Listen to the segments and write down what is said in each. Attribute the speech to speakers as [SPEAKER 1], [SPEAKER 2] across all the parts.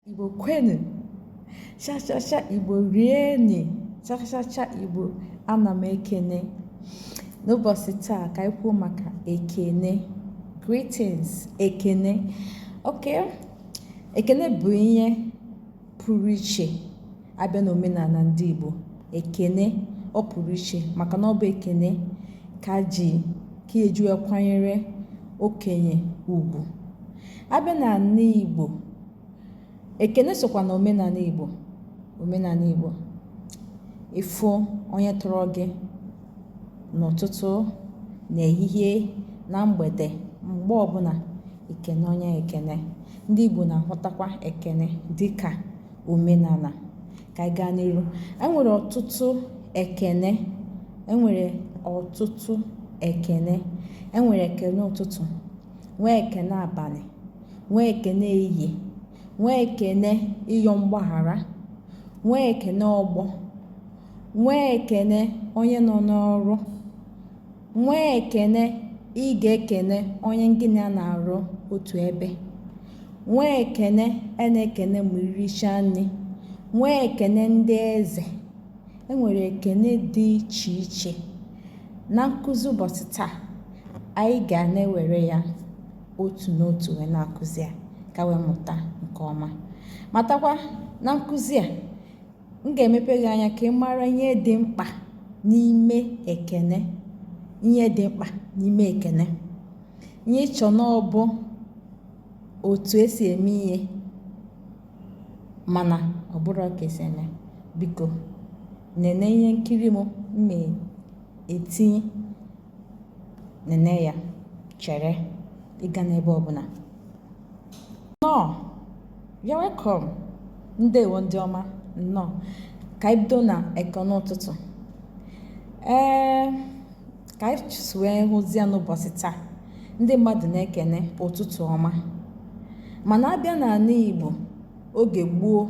[SPEAKER 1] Igbo kwenu chachacha Igbo rieni chachacha Igbo ana m ekene n'ụbọchị taa ka anyị kwuo maka ekene greetings ekene okay ekene bụ ihe pụrụ iche abịa n'omenala ndị Igbo ekene ọ pụrụ iche maka na ọ bụ ekene ka ji ka eji wee kwanyere okenye ugwu abịa na ala Igbo ekene sokwa na omenala Igbo omenala Igbo ịfụ onye tọrọ gị n'ụtụtụ n'ehihie na mgbede mgbe ọbụla ekene onye ekene ndị Igbo na-ahụtakwa ekene dịka omenala ka anyị gaa n'iru enwere ọtụtụ ekene enwere ọtụtụ ekene enwere ekene ụtụtụ nwee ekene abalị nwee ekene ehihie nwee ekene ịyọ mgbaghara nwee ekene ọgbọ nwee ekene onye nọ n'ọrụ Nwee ekene ị ga-ekene onye gị na ya na-arụ otu ebe. Nwee ekene a na-ekene ma irichaa nri. Nwee ekene ndị eze. E nwere ekene dị iche iche. Na nkụzi ụbọchị taa, anyị ga na-ewere ya otu n'otu wee na-akụzi ya ka wee mụta nke ọma. Matakwa na nkụzi a, m ga-emepe gị anya ka ị mara ihe dị mkpa n'ime ekene ihe dị mkpa n'ime ekene ihe i che na ọ bụ otu esi eme ihe mana ọ bụrọ ka esi eme biko nene ihe nkiri m na-etinye nene ya share ya ga n'ebe ọbụla nnọọ you're welcome ndewo ndị ọma nnọọ ka anyị bido na ekene ụtụtụ ee ka anyị si wee hụzie n'ụbọchị taa ndị mmadụ na-ekene ụtụtụ ọma mana abịa n'ala Igbo oge gboo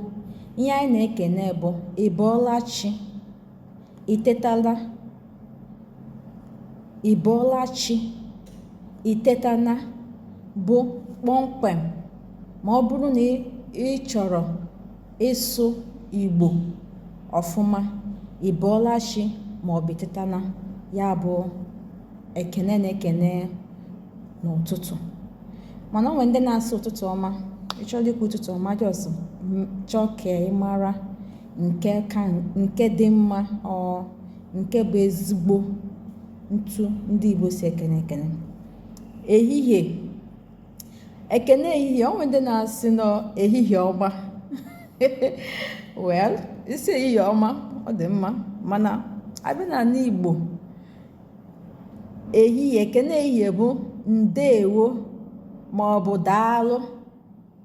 [SPEAKER 1] ihe anyị na-ekene bụ ị bọọla chi i tetala ị bọọla chi i tetana bụ kpọmkwem ma ọ bụrụ na ị chọrọ ịsụ igbo ọfụma ị bọọla chi maọbụ ị tetana ya bụ ekene na-ekene n'ụtụtụ mana o nwe ndị na-asị ụtụtụ ọma ị chọrọ ikwu ụtụtụ ọma just chọọ ka ị mara nke ka nke dị mma or nke bụ ezigbo ntu ndị Igbo si ekene ekene ehihie ekene ehihie o nwere ndị na-asị na ọ ehihie ọma well ị sị ehihie ọma ọ dị mma mana a bịa na ala Igbo ehihie ekene ehihie bụ ndeewo ma ọ bụ daalụ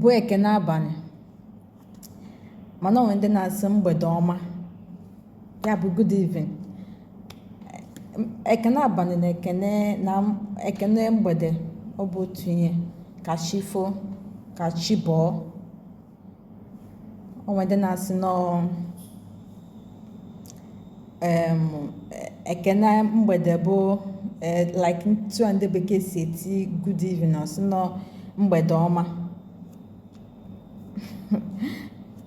[SPEAKER 1] bụ ekene abalị mana o nwere ndị na-asị mgbede ọma ya bụ good evening ekene abalị na ekene na ekene mgbede ọ bụ otu ihe ka chi foo ka chi bọọ o nwere ndị na-asị na ọ em, e- ekene mgbede bụ eh, like ntu a ndị bekee si eti good evening ọ sị na ọ mgbede ọma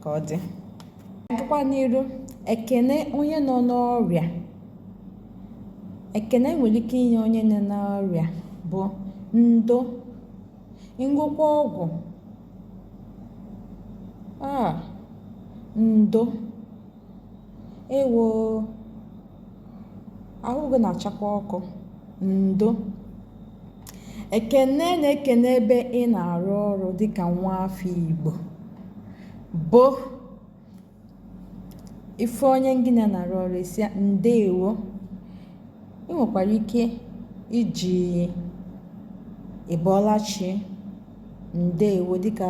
[SPEAKER 1] ka ọ dị a gakwa n'iru ekene onye nọ n'ọrịa ekene e nwere ike inye onye nọ n'ọrịa bụ ndo ṅụọkwa ọgwụ ndo ewo ahụ gị na-achakwa ọkụ ndo ekene ị na-ekene ebe ị na-arụ ọrụ dịka nwa afọ igbo bụ ị fụ onye gị na ya na-arụ ọrụ ị sị ya ndeewo ị nwekwara ike iji ị bọọla chi ndeewo dịka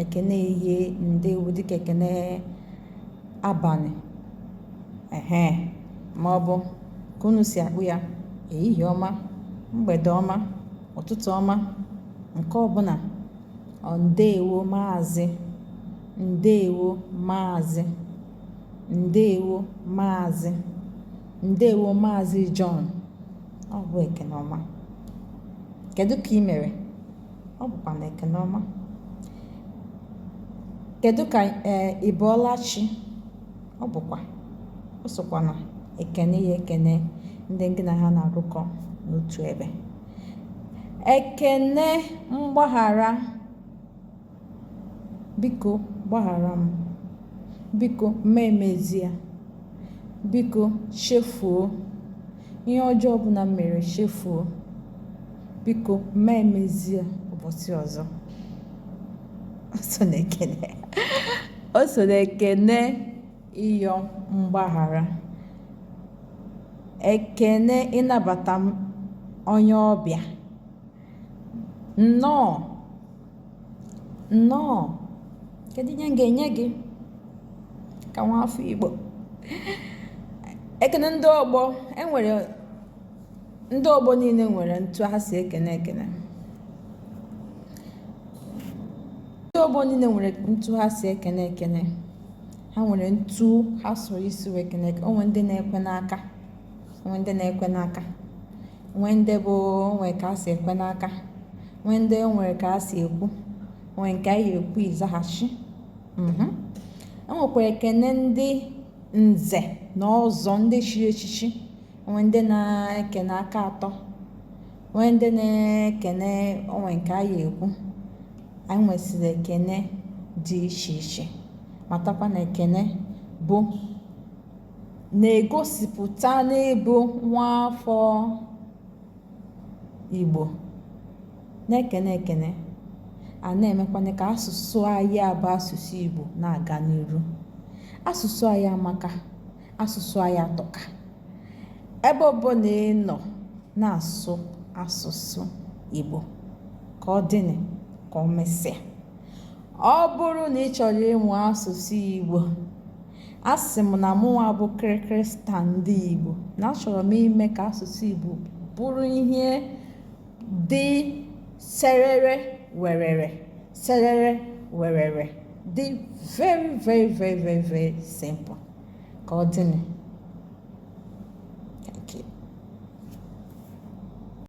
[SPEAKER 1] ekene ehihie ndeewo dịka ekene abalị ehe ma ọ bụ ka unu si akpọ ya ehihie ọma mgbede ọma ụtụtụ ọma nke ọbụla or ndeewo maazị Ndewo maazị. Ndewo maazị. Ndewo maazị John. Ọ bụ ekene ọma. Kedu ka i mere? Ọ bụkwa na ekene ọma. Kedu ka ee ị bọọla chi? Ọ bụkwa. O sokwa na ekene ị ya-ekene ndị gị na ha na-arụkọ n'otu ebe. Ekene mgbaghara. Biko gbaghara m. Biko mee m ezie. Biko chefuo ihe ọjọọ ọbụla m mere chefuo. Biko m ma emezi ya ụbọchị ọzọ. O so n'ekene o so n'ekene ịyọ mgbaghara. Ekene ịnabata em onye ọbịa. Nnọọ. nnọọ kedu ihe m ga-enye gị ka nwa afọ igbo ekene ndị ọgbọ e nwere ndị ọgbọ niile nwere ntu ha si ekene ekene ndị ọgbọ niile nwere ntu ha si ekene ekene ha nwere ntu ha soro isi wee ekene ekene o nwee ndị na-ekwe n'aka o nwee ndị na-ekwe n'aka nwee ndị bụ nwee ka a si ekwe n'aka nwee ndị nwere ka a si ekwu nwee nke anyị ekwu ịzaghachi mhm. e nwekwara ekene ndị nze na ọzọ ndị chiri echichi o nwee ndị na-ekene aka atọ o nwee ndị na-ekene o nwee nke anyị ekwu anyị nwesịrị ekene dị iche iche matakwa na ekene bụ na-egosipụta na ị bụ nwaafọ Igbo na-ekene ekene a na-emekwanị ka asụsụ anyị a bụ asụsụ Igbo na-aga n'iru asụsụ anyị amaka asụsụ anyị atọka ebe ọbụla ị nọ na-asụ asụsụ Igbo ka ọ dịnị ka o mesịa ọ bụrụ na ị chọrọ ịmụ asụsụ Igbo Asị m na mụnwa bụ kịrịkịrị star ndị Igbo na achọrọ m ime ka asụsụ Igbo bụrụ ihe dị serere werere serere werere dị very very very very very simple ka ọ dịnị